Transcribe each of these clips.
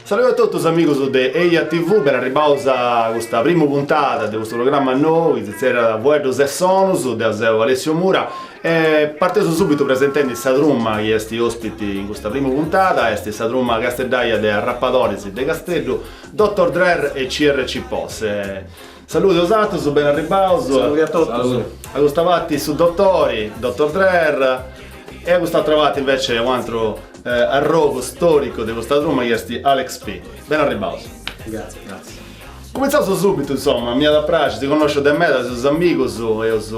Saludi a totus amigus de Eja TV, beni arribaus a custa prima puntada de custu programma nou chi si tzerriat Fueddus e sonus, deu seu Alessio Mura E parteus subitu presentendi sa truma chi est ospiti in custa prima puntada, est sa truma casteddaia de arrapadoris de Casteddu, Dottor Drer e CRC Posse. Saludi a osatrus, beni arribbaus. Saludi a totus. A custa parti su Dottori, Dottor Drer, e a cust'atra parti invece un'atru arrogu storicu de custa truma chi est Alex P. Beni arribbaus. Grazie, grazie. Cumentzaus subitu insoma, m'iat a praxiri si connosceus de meda, seus amigus, eus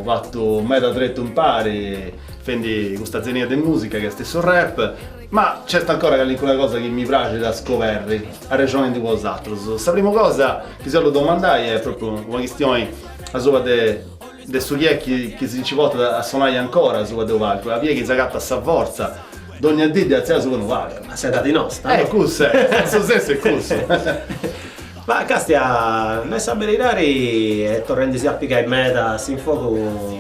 fatu meda tretu impari, fendi custa zenia de musica chi est su rap, ma nc'est ancora callincuna cosa chi mi praxit a scoberri, arrexonendi cun osatrus. Sa primu cosa chi si 'ollu domandai est propriu una chistioni asuba de de su chi est chi si nci portat a sonai ancora asuba de unu palcu, aboi est chi s'agatat sa fortza Dogna dì de atziai a unu palcu. A s'edadi nosta. Eh cussa est, su sensu est cussu. Ma castia, nai sa beridadi est torrendi si a pigai meda s'infogu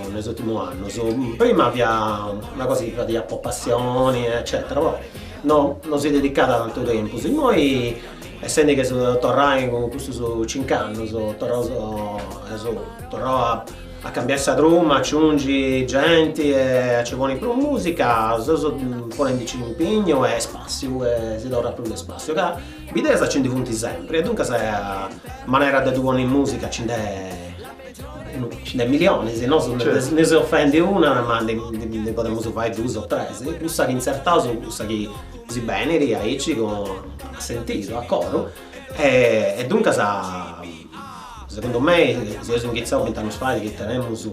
in is ultimus annus. Prima fia una cosa chi fadia po passioni eccetera poi no no si dedicada tantu tempus. Immoi essendi chi seus torrai cun custus cinc'annus torraus eus torrau a A cambiai sa truma, a aciungi genti e a ci poni prus musica, seus ponendi-nci cun impignu e spassiu e si torrat prus de spassiu ca bideas ci ndi funti sempri e duncas manera de ddu ponni in musica ci nd'è ci nd'è millionis, nosu ndi seus fendi una ma ndi ndi podemus fai duus o tres, cussa chi intzertaus, cussa chi si benit aici a sentidu, a coru E duncas segundu mei si eus inghitzau bint'annus fait chi tenemus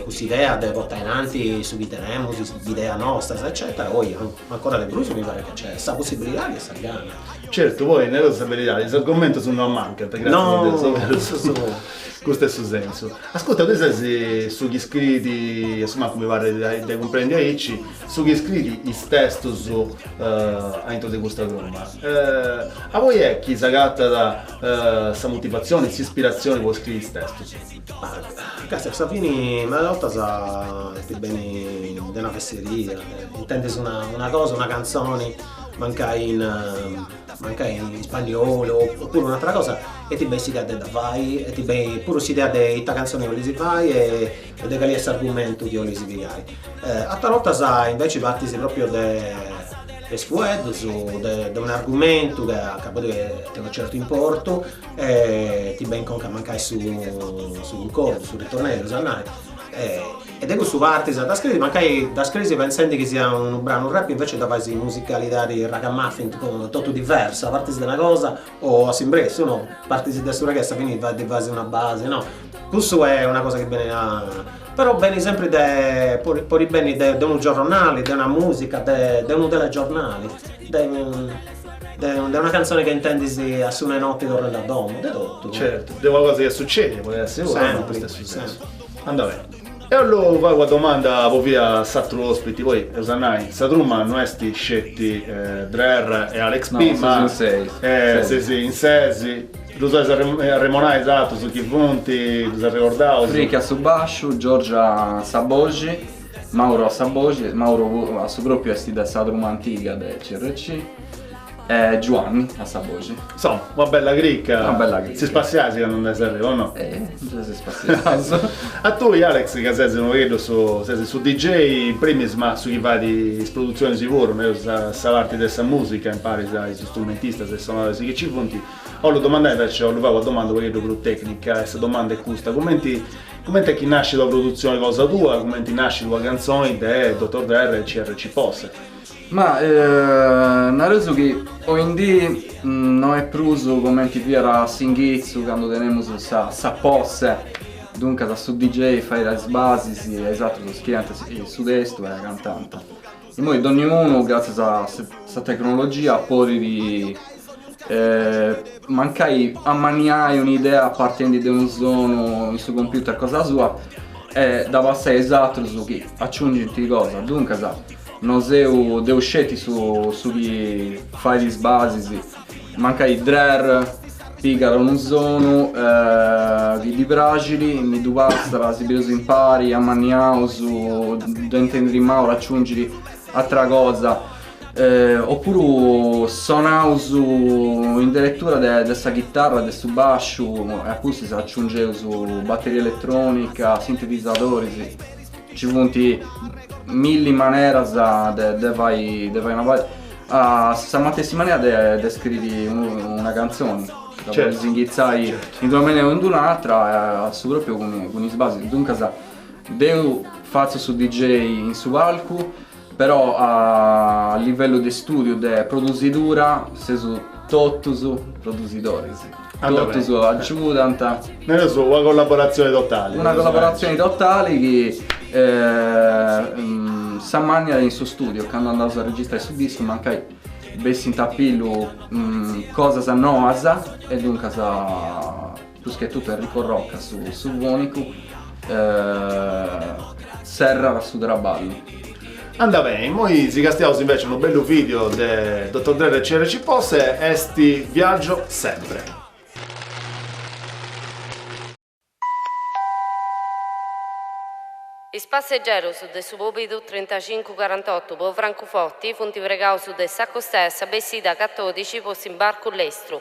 cuss'idea de portai innanti su chi tenemus, is ideas nostras eccetera, oi ancora de prus mi parit chi nc'est sa possibilidadi e sa gana. Certu, poi nereus sa beridadi, is argomentus no mancant, gratzias a Deus, no est berus, custu est su sensu. Ascurta, tui ses su chi scriit, a su mancu mi parit de cumprendi aici, Su chi scriit is testus aintru de custa truma. Aboi est chi s'agatat sa motivatzioni, s'ispiratzioni po scriri is testus? Castia, a sa fini meda ortas ti benit de una fesseria, intendis una cosa, una cantzoni mancai in mancai in ispanniolu o puru un'atera cosa e ti benit s'idea de dda fai e ti benit puru s'idea de ita cantzoni 'olis fai e e de cali est s'argumentu chi bolis pigai. Atras bortas inveci partis proprio de de is fueddus, de un'argumentu ca ca podi tenni unu certu importu e ti benit a conca mancai su su cuncordu, su ritornellu 'ollu nai e de cussu partis a dda scriri, mancai dda scrisi pentzendi chi siat unu branu rap e invece dda fais in musicalidadi ragamuffin totu diversa, partis de una cosa o a s'imbressu no, partis de su reggae e finis a ddi fai una base no, cussu est una cosa chi benit a però benit sempri de podit podit benni de unu giornali de una musica de de unu telegiornali de de de una canzone chi intendis a su notti torrendi a domo de totu. Certu, de una cosa chi est succedia podit essi puru no, in custu stessu sensu. Anda' 'Ollu fai una domanda po fintzas s'atru ospiti, poi eus a nai, sa truma no est sceti Drer e Alex P, ma seis in ses, ddus 'oleis arremonai is atrus chi funt, ddus arregordaus? Fricchi a su basciu, Giorgio a sa boxi, Mauro a sa boxi, Mauro a su propriu est de sa truma antiga de CRC. Eh, Giuanni, a sa boxi. Insomma, una bella cricca. Una bella cricca. Si spassiais candu andais a giru, o no? Eh, già si spassiaus. a tui, Alex, ca sesi un pocheddu su, sesi su DJ in primis, ma su chi fait is produzionis puru, no? Sa, sa parti de sa musica, imparis a is strumentistas e is sonadores chi ci funti. Ollu domandai invece, ollu fai una domanda un pocheddu prus tecnica, e sa domanda è custa, cumenti, cumenti è chi nascit una produzioni cosa tua, cumenti nascit una canzoni de Dottor Drer e CRC Posse? Ma nareus chi oindii no est prus cumenti fiat a s'inghitzu candu tenemus sa posse duncas su DJ faiat is basis e is atrus scriiant su testu e cantant. Immoi donniunu gratzias a sa tecnologia podit mancai ammaniai un'idea partendi de unu sonu in su computer cosa sua e dda passai a is atrus chi aciungint cosa, duncas No seu deu sceti su chi fait is basis, mancai Drer pigat unu sonu chi ddi praxit, mi ddu passat, si bius impari, amanniaus, ddu intendit Mauru, aciungit atera cosa, opuru sonaus in deretura de sa chitarra, de su basciu e apustis aciungeus batteria elettronica, sintetisadoris. Ci funt milli maneras de fai una basi, a sa matessi manera de scriri una cantzoni, dda podis inghitzai in d'una manera o in d'un'atra a su propriu cun is basis, duncas deu fatzu su dj in su palcu Però a livellu de stùdiu, de produsidura, seus totus produsidoris, totus agiudant. Nareus una collaboratzioni totali. Una collaboratzioni totali chi s'ammànniat in su stùdiu, candu andaus a registrai su discu, mancai bessint a pillu cosas noas e duncas. Prus che totu Enrico Rocca, su fonicu, serrat su traballu. Anda bene, immoi si castiaus invece unu bellu video de Dottor Drer e CRC Posse est Viaggio sempre. Is passegeros de su bòbidu trintacincu carantotu po Francuforti funt pregaus de s'acostare sa bessida catodixi po s'imbarcu lestru.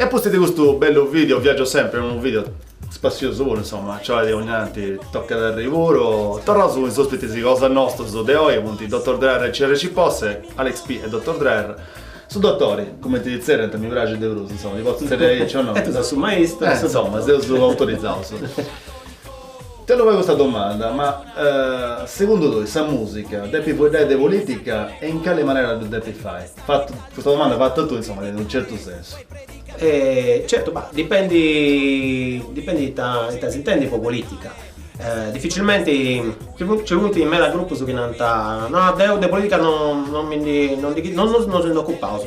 E pustis de custu bellu video, viaggio sempre, unu video spassiosu puru insomma, cioè dogna tanti tocat a arriri puru, torraus cun is ospitis cosa nostus de oi funt Dottor Drer e CRC Posse, Alex P e Dottor Drer, su Dottori, cumenti ddi tzerriant, mi praxit de prus, insomma, ddi potzu tzerriai aici o no. E tu ses su maistru. Eh, insomma, seus autorizaus. Ti 'ollu fai custa domanda, ma segundu tui sa musica depit fueddai de politica e in cali manera ddu depit fai? Fatu, custa domanda fata a tui insomma tenet unu certu sensu. E certu, bah, dipendi dipendi ita ita s'intendi po politica. Dificilmenti, nci funt nci funt meda grupus chi nant, no deu de politica no no mi ndi no ndi chi no no no si ndi ocupaus,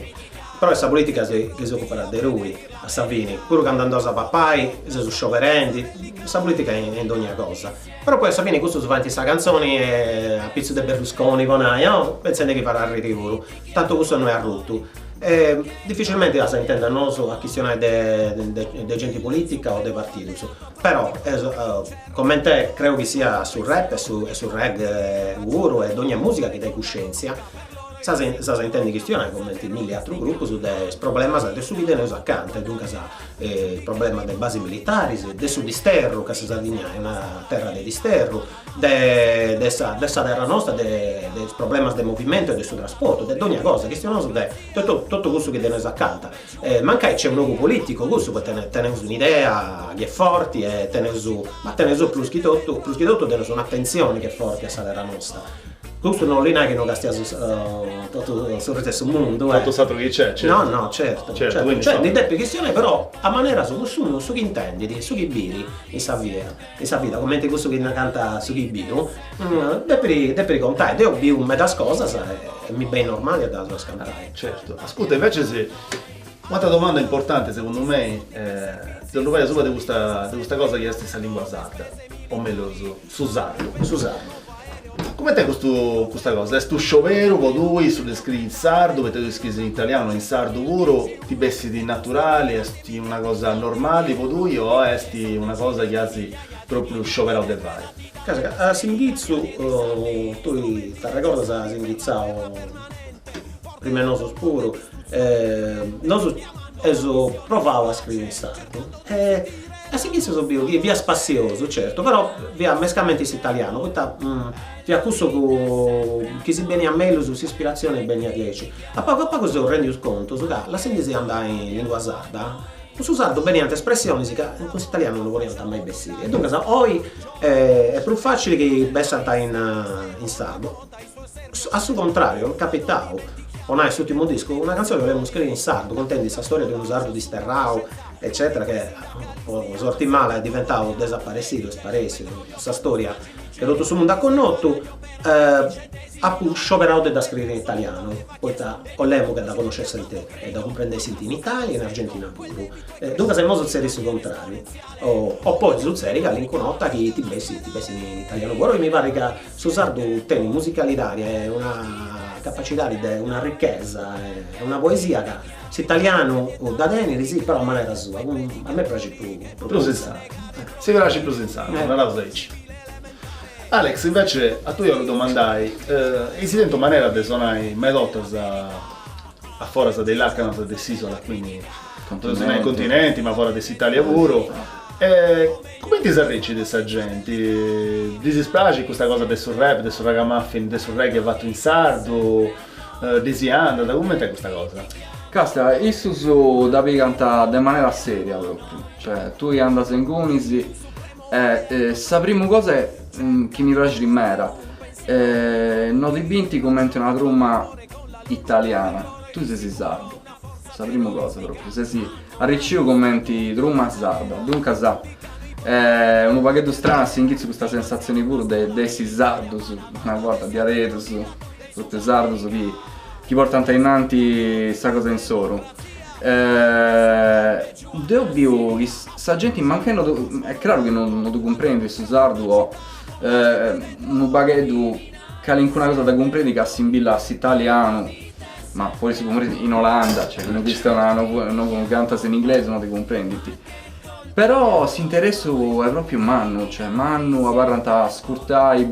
però est sa politica chi si ocupat de tui a sa fini, puru candu andaus a papai seus scioberendi, sa politica est in dogna cosa Però poi a sa fini cussus faint sa canzoni a pitzus de Berlusconi po nai o pentzendi chi fait arriri puru, tantu cussu no est arrutu e difficilmenti as a intendi a nosu a chistionai de genti politica o de partidus, però eus comente creu chi sia su rap e su reggae puru e dogna musica chi tenit cuscenzia s'as a intendi chistionai comente milli atrus grupus de is problemas de su chi teneus acanta e duncas is problemas de basis militaris, de su disterru, ca sa Sardigna est una terra de disterru, de de sa de sa terra nosta, de de is problemas de movimentu e de su trasportu, de dogna cosa, chistionaus de totu totu cussu chi teneus acanta. Mancai nc'est un'ogu politicu cussu, poita tene teneus un'idea chi est forti e teneus, ma teneus prus chi totu prus chi totu teneus un'atentzioni chi est forti a sa terra nosta Custu no bolit nai chi no castiaus totu su restu 'e su mundu, eh! Totu s'atru chi nc'est, certu. No, no, certu. Certu, quindi insomma. Cioè ndi depit chistionai però a manera sua, cussu, su chi intendit, su chi biri in sa via, in sa vida, cumenti cussu chi narant su chi biu, depiri depiri contai. Deu biu medas cosas e mi benit normali a ddas cantai. Certu. Ascurta, invecias, un'atra domanda importanti segundu mei, ti 'ollu fai asuba de custa de custa cosa chi est sa lingua sarda, o mellus Su sardu. Su sardu. Coment'est custu custa cosa? Est unu scioberu po tui su de scriri in sardu, poita tui scriis in italianu e in sardu puru, ti bessit naturali, est una cosa normali po tui o est una cosa chi as propriu scioberau de fai? Ca a s'ingitzu tui t'arregordas as ingitzau prima 'e nosu puru e nosu eus provau a scriri in sardu e Eus fintzas biu chi fia spassiosu, certu, però fia mescamente s'italianu, poita fia cussu chi si beniat mellus s'ispiratzioni beniat diaici. A pagu a pagu seus rendius contus ca lassendisì andai in lingua sarda, cun su sardu beniant espressionis ca cun s'italianu no podiant mai bessiri e duncas oi est prus facili chi bessant in sardu A su contrariu, est capitau, po nai s'ùrtimu discu, una cantzioni 'olemus scriri in sardu, contendi sa storia de unu sardu disterrau, eccètera, chi po sorti mala est diventau desaparessidu, est sparèssiu, sa storia chi totu su mundu at connotu, apu scioberau de dda scriri in italianu, poita 'olemu ca dda connoscessint e dda cumprendessint in Italia e in Argentina puru. Duncas a imoi sutzedit su contrariu, o podit sutzedi calincun'orta chi ti bessit, ti bessit in italianu puru, e mi parrit ca Su sardu tenit musicalidadi e una capacidadi de una ricchesa e una poesia ca s'italianu dda tenit si però a manera sua a mei praxit prus in sardu. Si praxit prus in sardu, naraus aici. Alex invece a tui 'ollu domandai eis tentu manera de sonai medas 'ortas a foras de is lacanas de s'Isola quindi, podeus nai continenti ma foras de s'Italia puru e Cumenti s'arricit sa genti? Ddis praxit custa cosa de su rap, de su ragamuffin, de su reggae fatu in sardu? Ddis andat? Cumenti est custa cosa? Càstia, issus dda pigant de manera seria propriu, cioè tui andas ingunis e sa primu cosa chi mi praxit meda, no ti bint cumenti una truma italiana, tui ses sardu, Sa primu cosa propriu, ses arriciu cumenti truma sarda, duncas eh, unu pagheddu stranu a s'inghitzu custa sensatzioni puru de de essi sardus, una borta diaderus, propriu sardus chi chi portant ainnanti sa cosa insoru eh, deu biu ca sa genti mancai no ddu, est craru chi no ddu cumprendit su sardu o eh unu pagheddu Calincuna cosa dda cumprendit ca assimbillat a s'italianu, ma po si cumprendi in Olanda, cioè chi no chistionas no no cantas in inglesu no ti cumprendit. Però s'interessu est propriu mannu, cioè mannu, abarrant a ascurtai,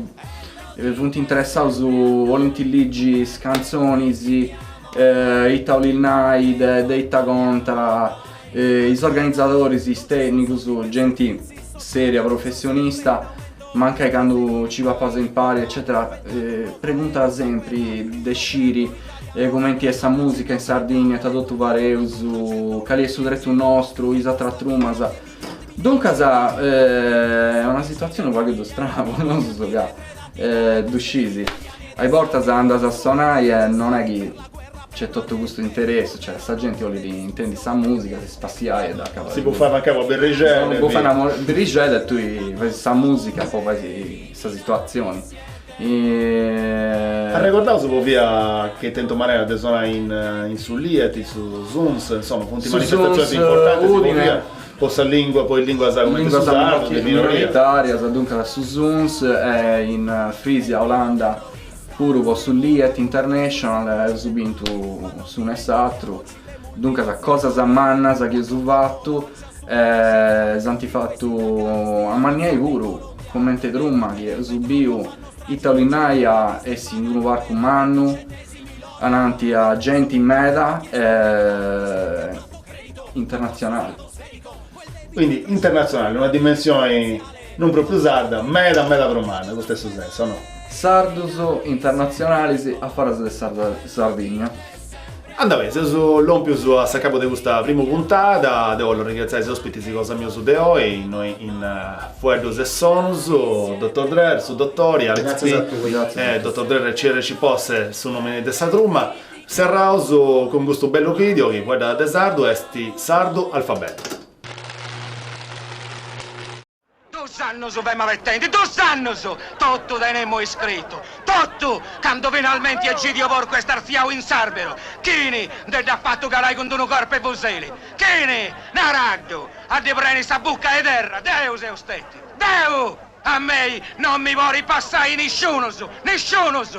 funt interessaus, 'olint ligi is cantzonis, ita 'olit nai, de ita contat, Is organizadoris, is tènnicus, genti sèria, professionista, mancai candu ci papas impari eccètera preguntat sempri de sciri cumenti est sa mùsica in Sardìnnia, ita totu fadeus, cali est su tretu nostru, is atras trumas. Duncas est una situatzioni unu pagheddu strana po nosu ca ddu scis, a bortas andas a sonai e non est chi C'è tutto questo interesse, cioè sta gente vuole intendi sa musica, si spassiai e da cavare. Si può fare mancare una berrigella. Non può fare una berrigella e tu fai sa musica, poi fai sa situazione. E... Arrecordau si povia che tento manera de sonare in, eh, in su Liet, in su Suns, insomma, funt manifestazioni importanti, si povia po sa lingua, po lingua sa come lingua sarda, minoritaria, sa dunca su Suns, eh, in Frisia, Olanda, Puru po su Liet International eus bintu s'unu e s'atru, duncas cosas mannas chi eus fatu e s'ant fatu amanniai puru, comente Truma chi eus biu ita 'olit nai a essi in unu parcu mannu, ananti a genti meda e internatzionali. Quindi internatzionale, una dimensioni non propriu sarda, meda meda prus manna, custu est su sensu, o no? Sardus internatzionalis a foras de Sardigna. Andabè, seus lompius a s'acabu de custa primu puntada, deu bollu arringratziai is ospitis cosa mius de oi, innoi in Fueddus e Sonus, Dotor Drer, su Dotori, Alex P, e Dotor Drer e CRC Posse, su nomini de sa truma. Serraus cun custu bellu video chi fueddat de sardu est Sardu Alfabetu. Duus annus femu abetendi, duus annus! Totu tenemu iscritu, totu! Candu finalmenti Egidio Porcu est artziau in s'arberu, chini nde dd'at fatu calai cun d'unu corpu 'e fuseli? Chini? Naraddu! A ddi preni sa bucca 'e terra! Deu seu stetiu! Deu! A mei non mi podit passai nisciunus! Nisciunus!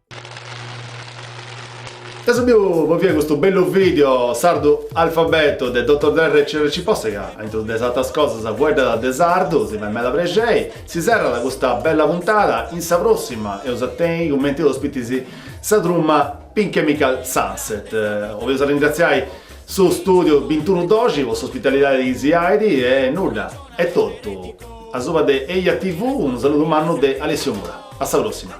Eus biu po finai custu bellu video sardu alfabeto de Dottor Drer e CRC Posse ca a intro de is atras cosas fueddat de sardu si fait meda prexei. Si serrat custa bella puntada, in sa prossima eus a tenni cumenti ospitis sa truma Pure Chemical Sunset. Boleus arringraziai su studio bintunu doxi po s'ospitalidadi chi si donat e nudda, est totu. Asuba de Eia TV unu saludu mannu de Alessio Mura. A sa prossima.